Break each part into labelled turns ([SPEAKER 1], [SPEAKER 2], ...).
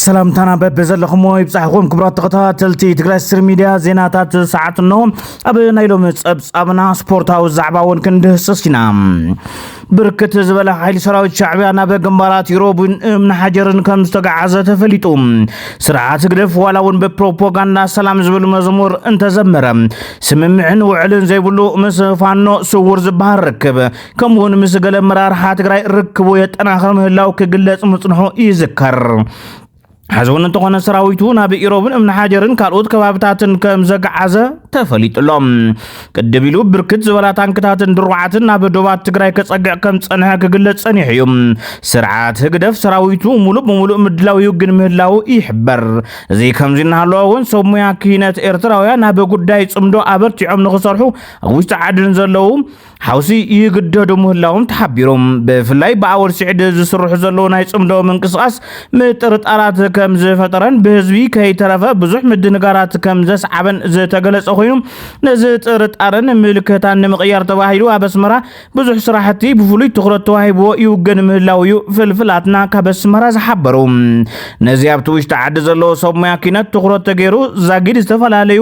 [SPEAKER 1] ሰላምታና በብ ዘለኹሞ ይብፃሕኹም ክብራት ተኸታተልቲ ትግራይ ስር ሚድያ ዜናታት ሰዓት እንሆ ኣብ ናይ ሎሚ ፀብፃብና ስፖርታዊ ዛዕባ እውን ክንድህስስ ኢና ብርክት ዝበለ ሓይሊ ሰራዊት ሻዕብያ ናብ ግንባራት ዩሮብን እምኒ ሓጀርን ከም ዝተጋዓዘ ተፈሊጡ ስርዓት ህግደፍ ዋላ እውን ብፕሮፓጋንዳ ሰላም ዝብል መዝሙር እንተዘመረ ስምምዕን ውዕልን ዘይብሉ ምስ ፋኖ ስውር ዝበሃል ርክብ ከምኡውን ምስ ገለ መራርሓ ትግራይ ርክቡ የጠናኽር ምህላው ክግለጽ ምጽንሑ ይዝከር። ሕዚ እውን እንተኾነ ሰራዊቱ ናብ ኢሮብን እምኒ ሓጀርን ካልኦት ከባብታትን ከም ዘግዓዘ ተፈሊጡ ኣሎ ቅድም ኢሉ ብርክት ዝበላ ታንክታትን ድሩዓትን ናብ ዶባት ትግራይ ከጸግዕ ከም ጸንሐ ክግለጽ ጸኒሑ እዩ ስርዓት ህግደፍ ሰራዊቱ ሙሉእ ብምሉእ ምድላው ይውግን ምህላው ይሕበር እዚ ከምዚ እናሃለወ እውን ሰብ ሙያ ክሂነት ኤርትራውያን ናብ ጉዳይ ጽምዶ ኣበርቲዖም ንክሰርሑ ኣብ ውሽጢ ዓድን ዘለዉ ሓውሲ ይግደዱ ምህላዎም ተሓቢሩ ብፍላይ ብኣወል ስዒድ ዝስርሑ ዘለዉ ናይ ጽምዶ ምንቅስቓስ ምጥርጣራት ከም ዝፈጠረን ብህዝቢ ከይተረፈ ብዙሕ ምድንጋራት ከም ዘስዓበን ዝተገለጸ ኮይኑ ነዚ ጥርጣረን ምልከታን ንምቕያር ተባሂሉ ኣብ ኣስመራ ብዙሕ ስራሕቲ ብፍሉይ ትኩረት ተዋሂብዎ ይውገን ምህላው እዩ ፍልፍላትና ካብ ኣስመራ ዝሓበሩ ነዚ ኣብቲ ውሽጢ ዓዲ ዘለዉ ሰብ ሙያ ኪነት ትኩረት ተገይሩ ዛጊድ ዝተፈላለዩ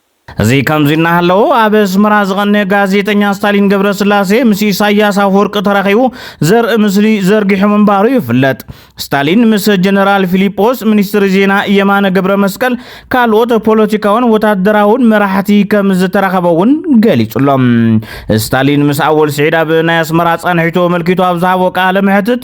[SPEAKER 1] እዚ ከምዚ እናሃለወ ኣብ ኣስመራ ዝቐነየ ጋዜጠኛ ስታሊን ገብረስላሴ ምስ ኢሳያስ ኣፈወርቂ ተራኺቡ ዘርኢ ምስሊ ዘርጊሑ ምንባሩ ይፍለጥ። ስታሊን ምስ ጀነራል ፊሊጶስ፣ ሚኒስትሪ ዜና የማነ ገብረመስቀል፣ ካልኦት ፖለቲካውን ወታደራውን መራሕቲ ከም ዝተራኸበ እውን ገሊጹ'ሎ። ስታሊን ምስ ኣወል ስዒድ ኣብ ናይ ኣስመራ ጻንሒቱ ኣመልኪቱ ኣብ ዝሃቦ ቃለ መሕትት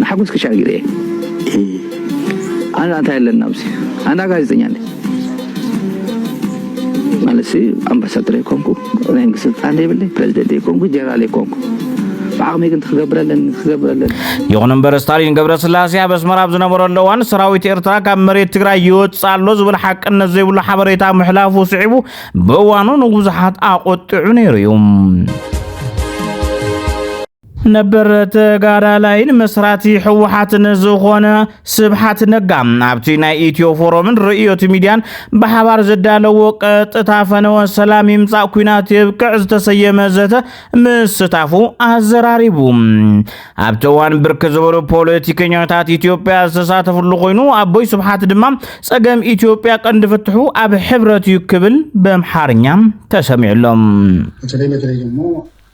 [SPEAKER 2] ንሓጎስ ክሻዕ ግዜ ኣና እንታይ ኣለና ኣብዚ ኣና ጋዜጠኛ ነ ማለት ኣምባሳደር ኣይኮንኩ ናይ መንግስቲ ስልጣን ዘይብለ ፕሬዚደንት ኣይኮንኩ ጀነራል ኣይኮንኩ ብዓቕመይ ግን ክገብር ኣለኒ ክገብር ኣለኒ ይኹን
[SPEAKER 1] እምበር ስታሊን ገብረስላሴ ኣብ ኣስመራ ኣብ ዝነበረሉ እዋን ሰራዊት ኤርትራ ካብ መሬት ትግራይ ይወፅእ ኣሎ ዝብል ሓቅነት ዘይብሉ ሓበሬታ ምሕላፉ ስዒቡ ብእዋኑ ንብዙሓት ኣቆጢዑ ነይሩ እዩ ነበር ተጋዳላይን መስራቲ ህወሓትን ዝኾነ ስብሓት ነጋ ኣብቲ ናይ ኢትዮ ፎረምን ርእዮት ሚድያን ብሓባር ዘዳለዎ ቀጥታ ፈነወ ሰላም ይምፃእ ኩናት የብቅዕ ዝተሰየመ ዘተ ምስታፉ ኣዘራሪቡ ኣብቲ እዋን ብርክ ዝበሉ ፖለቲከኛታት ኢትዮጵያ ዝተሳተፍሉ ኮይኑ ኣቦይ ስብሓት ድማ ፀገም ኢትዮጵያ ቀንዲ ፍትሑ ኣብ ሕብረት እዩ ክብል በምሓርኛ ተሰሚዑሎም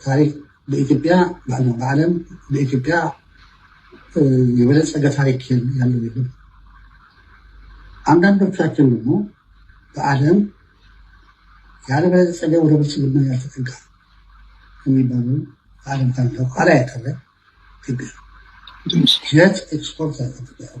[SPEAKER 3] ታሪክ በኢትዮጵያ ባዕልና በዓለም በኢትዮጵያ የበለፀገ ታሪክ ያለው የለም። አንዳንዶቻችን ደግሞ በዓለም ያልበለፀገ ወደ ብልጽግና ያልተጠጋ የሚባሉ በዓለም ታሪክ ኋላ ያቀረ ኢትዮጵያ ሸት ኤክስፖርት ያቀረ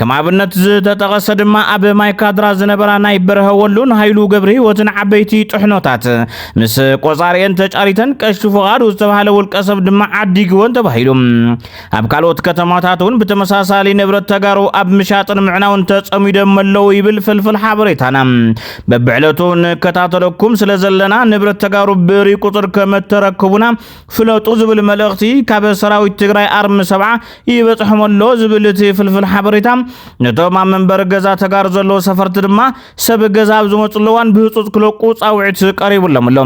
[SPEAKER 1] ከም ኣብነት ዝተጠቐሰ ድማ ኣብ ማይካድራ ዝነበራ ናይ በረሀ ወሎን ሃይሉ ገብረ ህይወትን ዓበይቲ ጥሕኖታት ምስ ቆፃሪኤን ተጫሪተን ቀሺ ፍቓዱ ዝተባሃለ ውልቀ ሰብ ድማ ዓዲግወን ተባሂሉ ኣብ ካልኦት ከተማታት እውን ብተመሳሳሊ ንብረት ተጋሩ ኣብ ምሻጥን ምዕናውን ተፀሚዶም ኣለዉ ይብል ፍልፍል ሓበሬታና በብዕለቱ ንከታተለኩም ስለ ዘለና ንብረት ተጋሩ ብእሪ ቁፅር ከመተረክቡና ፍለጡ ዝብል መልእኽቲ ካብ ሰራዊት ትግራይ ኣርሚ ሰብዓ ይበጽሖም ኣሎ ዝብል እቲ ፍልፍል ሓበሬታ ነቶም ኣብ መንበሪ ገዛ ተጋሩ ዘለዉ ሰፈርቲ ድማ ሰብ ገዛ ኣብ ዝመፅሉ እዋን ብህፁፅ ክለቁ ፃውዒት ቀሪቡሎም ኣሎ።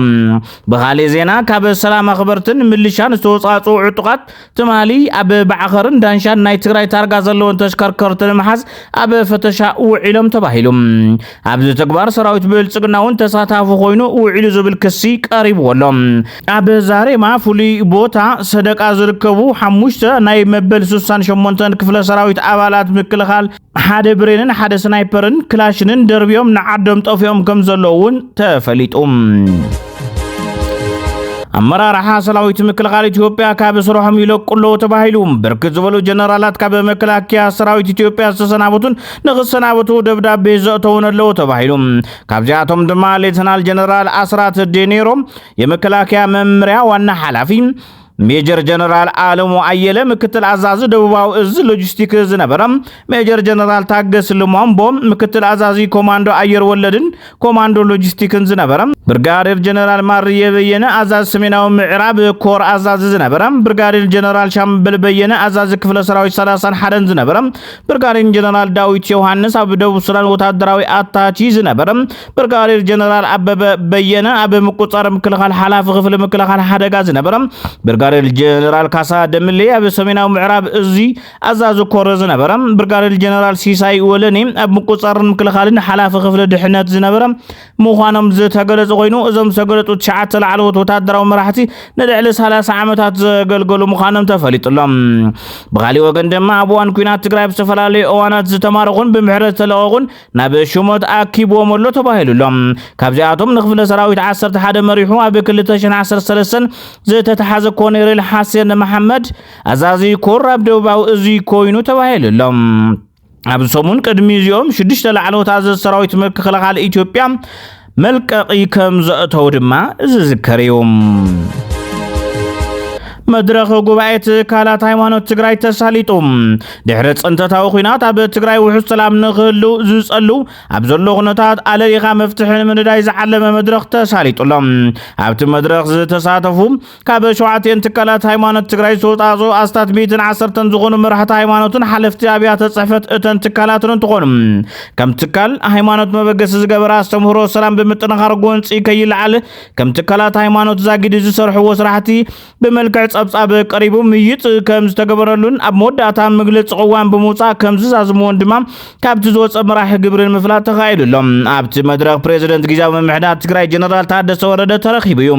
[SPEAKER 1] ብካሊእ ዜና ካብ ሰላም ኣኽበርትን ምልሻን ዝተወፃፅኡ ዕጡቓት ትማሊ ኣብ ባዕኸርን ዳንሻን ናይ ትግራይ ታርጋ ዘለወን ተሽከርከርቲ ንምሓዝ ኣብ ፈተሻ ውዒሎም ተባሂሉ። ኣብዚ ተግባር ሰራዊት ብልጽግና እውን ተሳታፊ ኮይኑ ውዒሉ ዝብል ክሲ ቀሪብዎ ኣሎ። ኣብ ዛሬማ ፍሉይ ቦታ ሰደቃ ዝርከቡ ሓሙሽተ ናይ መበል ስሳን ሸሞንተን ክፍለ ሰራዊት ኣባላት ምክልኻል ሓደ ብሬንን ሓደ ስናይፐርን ክላሽንን ደርቢዮም ንዓዶም ጠፊኦም ከም ዘለዉ እውን ተፈሊጡ። ኣመራርሓ ሰራዊት ምክልኻል ኢትዮጵያ ካብ ስርሖም ይለቁ ኣለዉ ተባሂሉ ብርክት ዝበሉ ጀነራላት ካብ መከላከያ ሰራዊት ኢትዮጵያ ዝተሰናበቱን ንክሰናበቱ ደብዳቤ ዘእተውን ኣለዉ ተባሂሉ። ካብዚኣቶም ድማ ሌተናል ጀነራል ኣስራት ዴኔሮ የመከላከያ መምሪያ ዋና ሓላፊ፣ ሜጀር ጀነራል ኣለሙ ኣየለ ምክትል ኣዛዚ ደቡባዊ እዝ ሎጂስቲክ ዝነበረ፣ ሜጀር ጀነራል ታገስ ልሟምቦ ምክትል ኣዛዚ ኮማንዶ ኣየር ወለድን ኮማንዶ ሎጂስቲክን ዝነበረ ብርጋዴር ጀነራል ማርየ በየነ፣ ኣዛዚ ሰሜናዊ ምዕራብ ኮር ኣዛዚ ዝነበረ ብርጋዴር ጀነራል ሻምበል በየነ፣ ኣዛዚ ክፍለ ሰራዊት ሰላሳን ሓደን ዝነበረ ብርጋዴር ጀነራል ዳዊት ዮሃንስ፣ ኣብ ደቡብ ሱዳን ወታደራዊ ኣታቺ ዝነበረ ብርጋዴር ጀነራል ኣበበ በየነ፣ ኣብ ምቁጻር ምክልኻል ሓላፊ ክፍሊ ምክልኻል ሓደጋ ዝነበረ ብርጋዴር ጀነራል ካሳ ደምሌ፣ ኣብ ሰሜናዊ ምዕራብ እዚ ኣዛዚ ኮር ዝነበረ ብርጋዴር ጀነራል ሲሳይ ወለኔ ኣብ ምቁፅፃርን ምክልኻልን ሓላፊ ክፍሊ ድሕነት ዝነበረ ምዃኖም ዝተገለፁ ኮይኑ እዞም ዝተገለፁ ትሽዓተ ላዕለዎት ወታደራዊ መራሕቲ ንልዕሊ 30 ዓመታት ዘገልገሉ ምዃኖም ተፈሊጡሎም ብካሊእ ወገን ድማ ኣብ እዋን ኩናት ትግራይ ኣብ ዝተፈላለዩ እዋናት ዝተማረኹን ብምሕረት ዝተለቐቑን ናብ ሽሞት ኣኪብዎም ኣሎ ተባሂሉሎም ካብዚኣቶም ንክፍለ ሰራዊት 11 መሪሑ ኣብ 2013 ዝተተሓዘ ኮኔሬል ሓሴን መሓመድ ኣዛዚ ኮር ኣብ ደቡባዊ እዚ ኮይኑ ተባሂሉ ኣሎ። ኣብዚ ሰሙን ቅድሚ እዚኦም ሽዱሽተ ላዕለዎት ኣዘዝ ሰራዊት ምክልኻል ኢትዮጵያ መልቀቒ ከም ዘእተው ድማ ዝዝከር እዩ። መድረኽ ጉባኤ ትካላት ሃይማኖት ትግራይ ተሳሊጡ ድሕሪ ፅንተታዊ ኩናት ኣብ ትግራይ ውሑስ ሰላም ንክህሉ ዝፀሉ ኣብ ዘሎ ኩነታት ኣለሊኻ መፍትሒ ንምንዳይ ዝዓለመ መድረኽ ተሳሊጡ ኣሎ። ኣብቲ መድረኽ ዝተሳተፉ ካብ ሸውዓቲኤን ትካላት ሃይማኖት ትግራይ ዝተውፃእፅኡ ኣስታት ሚእትን ዓሰርተን ዝኾኑ መራሕቲ ሃይማኖትን ሓለፍቲ ኣብያተ ፅሕፈት እተን ትካላትን እንትኾኑ ከም ትካል ሃይማኖት መበገሲ ዝገበረ ኣስተምህሮ ሰላም ብምጥንኻር ጎንፂ ከይለዓል ከም ትካላት ሃይማኖት ዛጊድ ዝሰርሕዎ ስራሕቲ ብመልክዕ ፀብፃብ ቀሪቡ ምይጥ ከም ዝተገበረሉን ኣብ መወዳእታ መግለፂ ቅዋም ብምውፃእ ከም ዝዛዝምዎን ድማ ካብቲ ዝወፀ መራሒ ግብሪ ንምፍላጥ ተኻኢሉ ኣሎ ኣብቲ መድረኽ ፕሬዚደንት ግዜያዊ ምምሕዳር ትግራይ ጀነራል ታደሰ ወረደ ተረኺቡ እዩ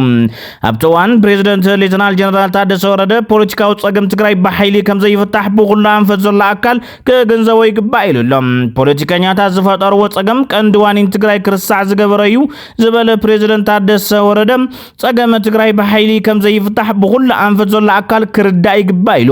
[SPEAKER 1] ኣብቲ እዋን ፕሬዚደንት ሌተናል ጀነራል ታደሰ ወረደ ፖለቲካዊ ፀገም ትግራይ ብሓይሊ ከምዘይፍታሕ ብኩሉ ኣንፈት ዘሎ ኣካል ክግንዘቦ ይግባእ ኢሉ ኣሎ ፖለቲከኛታት ዝፈጠርዎ ፀገም ቀንዲ ዋኒን ትግራይ ክርሳዕ ዝገበረ እዩ ዝበለ ፕሬዚደንት ታደሰ ወረደ ፀገመ ትግራይ ብሓይሊ ከምዘይፍታሕ ብኩሉ ኣንፈት ዘሎ ኣካል ክርዳእ ይግባእ ኢሉ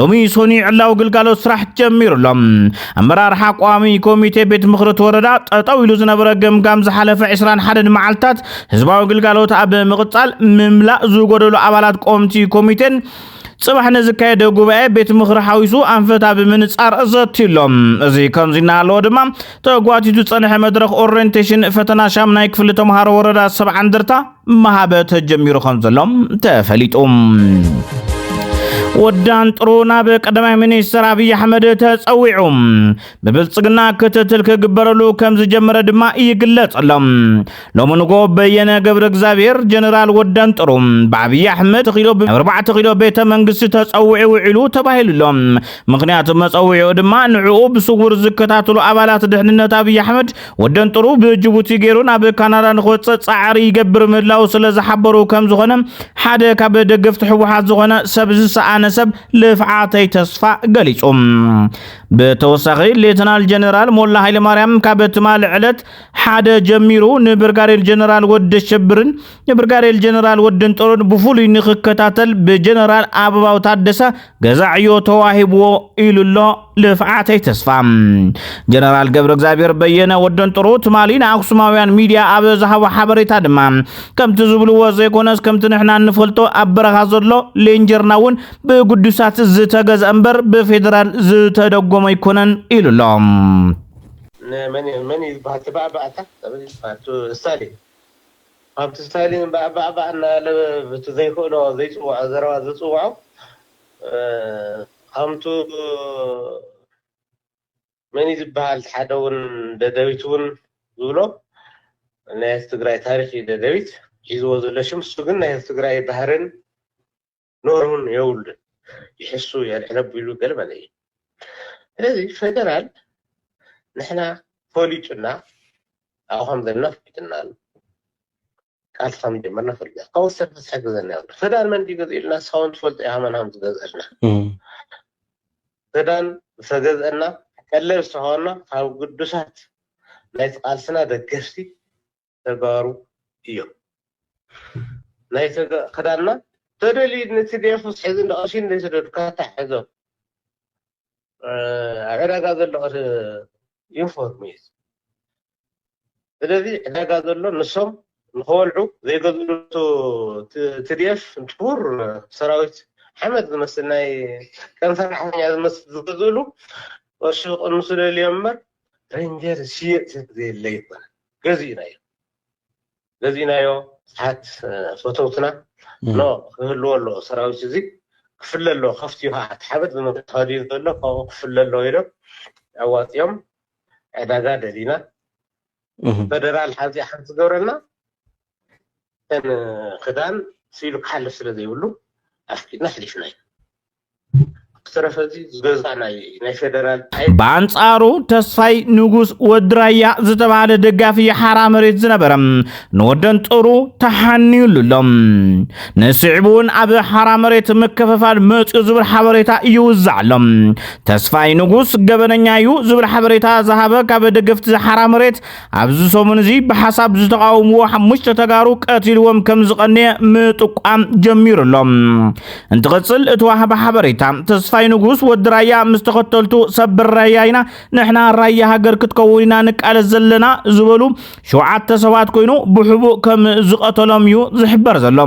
[SPEAKER 1] ሎሚ ሶኒ ዕላዊ ግልጋሎት ስራሕ ጀሚሩ ኣሎ። ኣመራርሓ ቋሚ ኮሚቴ ቤት ምኽሪ እቲ ወረዳ ጠጠው ኢሉ ዝነበረ ገምጋም ዝሓለፈ 21 መዓልትታት ህዝባዊ ግልጋሎት ኣብ ምቕፃል ምምላእ ዝጎደሉ ኣባላት ቆምቲ ኮሚቴን ፅባሕ ንዝካየደ ጉባኤ ቤት ምኽሪ ሓዊሱ ኣንፈታ ብምንፃር ዘትዩሎም እዚ ከምዚ እናሃለዎ ድማ ተጓቲቱ ዝፀንሐ መድረኽ ኦሪንቴሽን ፈተና ሻምናይ ክፍሊ ተምሃሮ ወረዳ ሰብዓ እንደርታ ምሃበ ተጀሚሩ ከም ዘሎ ተፈሊጡ። ወዳን ጥሩ ናብ ቀዳማይ ሚኒስትር ኣብዪ ኣሕመድ ተፀዊዑ ብብልፅግና ክትትል ክግበረሉ ከም ዝጀመረ ድማ ይግለጸሎም ሎሚ ንጎ በየነ ገብረ እግዚኣብሔር ጀነራል ወዳን ጥሩ ብኣብዪ ኣሕመድ ተኺሎ ብኣርባዕተ ኪሎ ቤተ መንግስቲ ተፀዊዑ ውዒሉ ተባሂሉሎ ምክንያቱ መፀዊዑ ድማ ንዕኡ ብስውር ዝከታተሉ ኣባላት ድሕንነት ኣብዪ ኣሕመድ ወደንጥሩ ብጅቡቲ ገይሩ ናብ ካናዳ ንክወፅእ ፃዕሪ ይገብር ምህላው ስለ ዝሓበሩ ከም ዝኾነ ሓደ ካብ ደገፍቲ ህወሓት ዝኾነ ሰብ ዝሰኣነ ሰብ ልፍዓተይ ተስፋ ገሊፁ። ብተወሳኺ ሌተናል ጀነራል ሞላ ሃይለማርያም ካብ ትማሊ ዕለት ሓደ ጀሚሩ ንብርጋዴር ጀነራል ወደ ሸብርን ንብርጋዴር ጀነራል ወደንጠሩን ብፍሉይ ንክከታተል ብጀነራል ኣበባው ታደሰ ገዛ ዕዮ ተዋሂብዎ ኢሉ ኣሎ ልፍዓተይ ተስፋ ጀነራል ገብረ እግዚኣብሔር በየነ ወደንጥሩ ትማሊ ንኣክሱማውያን ሚድያ ኣብ ዝሃቦ ሓበሬታ ድማ ከምቲ ዝብልዎ ዘይኮነስ ከምቲ ንሕና እንፈልጦ ኣብ በረኻ ዘሎ ሌንጀርና እውን ብግዱሳት ዝተገዝአ እምበር ብፌደራል ዝተደጎመ ኣይኮነን ኢሉ ኣሎ መን
[SPEAKER 4] እዩ ዝበሃል ተባዕ ባዕታ ተበል ይበሃል ሳሌ ኣብቲ ስታሊን ባእባእባእ እናበለ ብቲ ዘይክእሎ ዘይፅውዖ ዘረባ ዝፅውዖ ከምቱ መን እዩ ዝበሃል ሓደ እውን ደደቢት እውን ዝብሎ ናይ ህዝቢ ትግራይ ታሪክ እዩ ደደቢት ሒዝዎ ዘሎ ሽም እሱ ግን ናይ ህዝቢ ትግራይ ባህርን ንኦምን የውሉን ይሕሱ የልዕለ ቢሉ ገለ መለ እዩ ስለዚ ፈደራል ንሕና ፈሊጡና ኣብኡ ከም ዘለና ፍሊጥና ኣሎ ቃልሲ ከም ጀመርና ፈሊጥና ካብኡ ዝተርፈ ዝሕግዘና የብሉ ፈዳን መን ድዩ ገዝ ኢልና ንስኻ እውን ትፈልጦ ኢኻ መን ከም ዝገዝአልና ፈዳን ዝተገዝአና ቀለብ ዝተኸበና ካብ ግዱሳት ናይቲ ቃልስና ደገፍቲ ተጋሩ እዮም ናይ ተጋ ክዳና ተደልዩ ንትዴፍ ምስ ሕዚ ንቐሺ እንደሰደድካ ታሕዞ ዕዳጋ ዘሎ ዩኒፎርም እዩ ስለዚ ዕዳጋ ዘሎ ንሶም ንኸወልዑ ዘይገዝሉ ትድኤፍ እንትኩር ሰራዊት ሓመድ ዝመስል ናይ ከም ሰራሕተኛ ዝመስል ዝገዝእሉ ቅርሺ ክቕንሱ ደልዮም እምበር ረንጀር ዝሽየጥ ሰብ ዘየለ ይኮነ ገዚእናዮ ገዚእናዮ ብዙሓት ፈተውትና ኖ ክህልዎ ኣለዎ ሰራዊት እዚ ክፍለ ኣለዎ ከፍቲ እዩ ከዓ እቲ ሓበጥ ብምትኸዱ እዩ ዘሎ ካብኡ ክፍለ ኣለዎ ኢሎም ኣዋፂኦም ዕዳጋ ደሊና ፈደራል ሓዚ ሓንቲ ዝገብረና እተን ክዳን ስኢሉ ክሓልፍ ስለ ዘይብሉ ኣፍቂድና ኣሕሊፍናዮ ብዝተረፈ እዚ ዝገዝኣ ናይ
[SPEAKER 1] ናይ ፌደራል ኣይ ብኣንጻሩ ተስፋይ ንጉስ ወዲ ራያ ዝተባህለ ደጋፊ ሓራ መሬት ዝነበረ ንወደንጦሩ ተሓንዩሉ ኣሎ። ንስዒቡ እውን ኣብ ሓራ መሬት ምክፍፋል መፅኡ ዝብል ሓበሬታ ይውዛዕ ኣሎ። ተስፋይ ንጉስ ገበነኛ እዩ ዝብል ሓበሬታ ዝሃበ ካብ ደገፍቲ ሓራ መሬት ኣብዚ ሰሙን እዚ ብሓሳብ ዝተቃውምዎ ሓሙሽተ ተጋሩ ቀቲልዎም ከም ዝቐነየ ምጥቋም ጀሚሩ ኣሎ እንትቕፅል እተዋህበ ሓበሬታ ተስፋይ ንጉስ ወዲ ራያ ምስ ተኸተልቱ ሰብር ራያ ኢና ንሕና ራያ ሃገር ክትከውን ኢና ንቃለስ ዘለና ዝበሉ ሸውዓተ ሰባት ኮይኑ ብሕቡእ ከም ዝቐተሎም እዩ ዝሕበር ዘሎ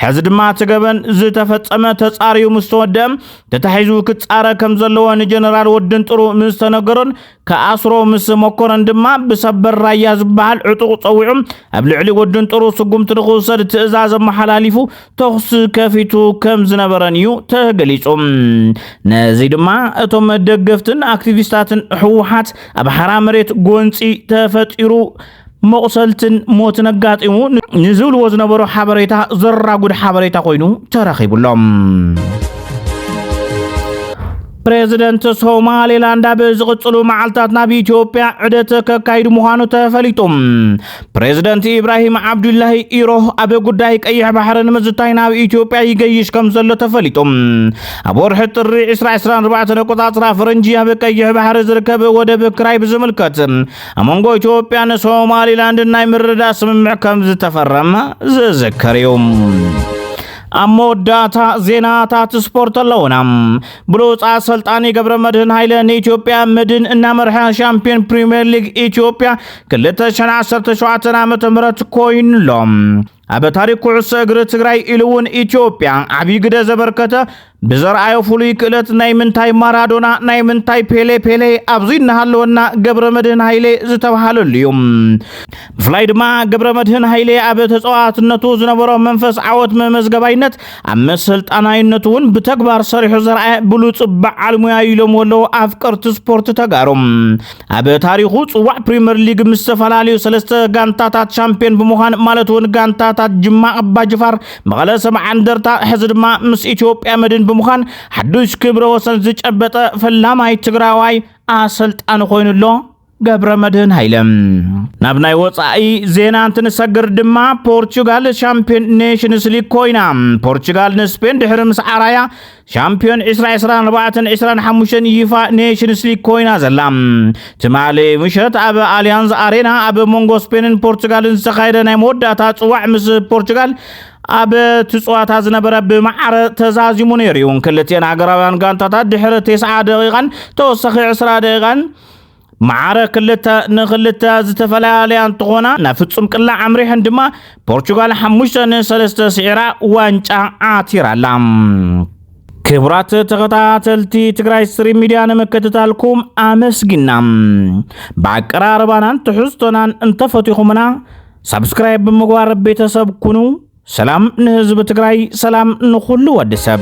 [SPEAKER 1] ሕዚ ድማ እቲ ገበን ዝተፈፀመ ተፃርዩ ምስ ተወደአ ተታሒዙ ክፃረ ከም ዘለዎ ንጀነራል ወድን ጥሩ ምስ ተነገሮን ክኣስሮ ምስ መኮነን ድማ ብሰበር ራያ ዝበሃል ዕጡቕ ጸዊዑ ኣብ ልዕሊ ወድን ጥሩ ስጉምቲ ንኽውሰድ ትእዛዝ ኣመሓላሊፉ ተኹሲ ከፊቱ ከም ዝነበረን እዩ ተገሊጹ። ነዚ ድማ እቶም ደገፍትን ኣክቲቪስታትን ህወሓት ኣብ ሓራ መሬት ጎንጺ ተፈጢሩ መቑሰልትን ሞትን ኣጋጢሙ ንዝብልዎ ዝነበሩ ሓበሬታ ዘራጉድ ሓበሬታ ኮይኑ ተረኺቡሎም። ፕሬዚደንት ሶማሌላንድ ኣብ ዝቕፅሉ መዓልታት ናብ ኢትዮጵያ ዕደት ከካይዱ ምዃኑ ተፈሊጡ ፕሬዚደንት ኢብራሂም ዓብዱላሂ ኢሮ ኣብ ጉዳይ ቀይሕ ባሕሪ ንምዝታይ ናብ ኢትዮጵያ ይገይሽ ከም ዘሎ ተፈሊጡ ኣብ ወርሒ ጥሪ 2024 ኣቆፃፅራ ፈረንጂ ኣብ ቀይሕ ባሕሪ ዝርከብ ወደብ ክራይ ብዝምልከት ኣብ መንጎ ኢትዮጵያን ሶማሊላንድን ናይ ምርዳእ ስምምዕ ከም ዝተፈረመ ዝዝከር እዩ ኣብ መወዳእታ ዜናታት ስፖርት ኣለውና ብሉፅ ኣሰልጣኒ ገብረ መድህን ሃይለ ንኢትዮጵያ መድን እናመርሐ ሻምፒዮን ፕሪምየር ሊግ ኢትዮጵያ 217 ዓ ም ኮይኑሎም ኣብ ታሪክ ኩዕሶ እግሪ ትግራይ ኢሉ እውን ኢትዮጵያ ዓብዪ ግደ ዘበርከተ ብዘርኣዮ ፍሉይ ክእለት ናይ ምንታይ ማራዶና ናይ ምንታይ ፔሌ ፔሌ ኣብዚ እናሃለወና ገብረ መድህን ሃይሌ ዝተብሃለሉ እዩ ብፍላይ ድማ ገብረ መድህን ሃይሌ ኣብ ተፃዋትነቱ ዝነበሮ መንፈስ ዓወት መመዝገባይነት ኣብ መሰልጣናይነቱ እውን ብተግባር ሰሪሑ ዘርኣየ ብሉፅ በዓል ሙያ ኢሎም ወለዉ ኣፍቀርቲ ስፖርት ተጋሩ ኣብ ታሪኹ ጽዋዕ ፕሪምየር ሊግ ምስ ዝተፈላለዩ ሰለስተ ጋንታታት ሻምፒዮን ብምዃን ማለት እውን ጋንታታት ጅማ ኣባጅፋር፣ መቐለ ሰብዓ እንደርታ ሕዚ ድማ ምስ ኢትዮጵያ መድን ብምዃን ሓዱሽ ክብረ ወሰን ዝጨበጠ ፈላማይ ትግራዋይ ኣሰልጣኒ ኮይኑ ኣሎ። ገብረ መድህን ሃይለ ናብ ናይ ወፃኢ ዜና እንትንሰግር ድማ ፖርቹጋል ሻምፒዮን ኔሽንስ ሊግ ኮይና ፖርቹጋል ንስፔን ድሕሪ ምስዓራያ ሻምፕዮን ዕስራ ዕስራን ኣርባዕተን ዕስራን ሓሙሽተን ዩፋ ኔሽንስ ሊግ ኮይና ዘላ ትማሊ ምሸት ኣብ ኣሊያንዝ ኣሬና ኣብ መንጎ ስፔንን ፖርቱጋልን ዝተኻየደ ናይ መወዳእታ ፅዋዕ ምስ ፖርቱጋል ኣብ እቲ ፀዋታ ዝነበረ ብማዕረ ተዛዚሙ ነይሩ እዩ ክልቲኤን ሃገራውያን ጋንታታት ድሕሪ 90 ደቂቓን ተወሳኺ 20 ደቂቓን መዓረ ክልተ ንክልተ ዝተፈላለያ እንትኾና ናብ ፍጹም ቅላዕ ኣምሪሐን ድማ ፖርቹጋል ሓሙሽተ ንሰለስተ ስዒራ ዋንጫ ዓቲራ ኣላ። ክቡራት ተኸታተልቲ ትግራይ ስትሪም ሚድያ ንምክትታልኩም ኣመስጊና ብኣቀራርባናን ትሕዝቶናን እንተፈቲኹምና ሳብስክራይብ ብምግባር ቤተሰብ ኩኑ። ሰላም ንህዝቢ ትግራይ፣ ሰላም ንኹሉ ወዲ ሰብ።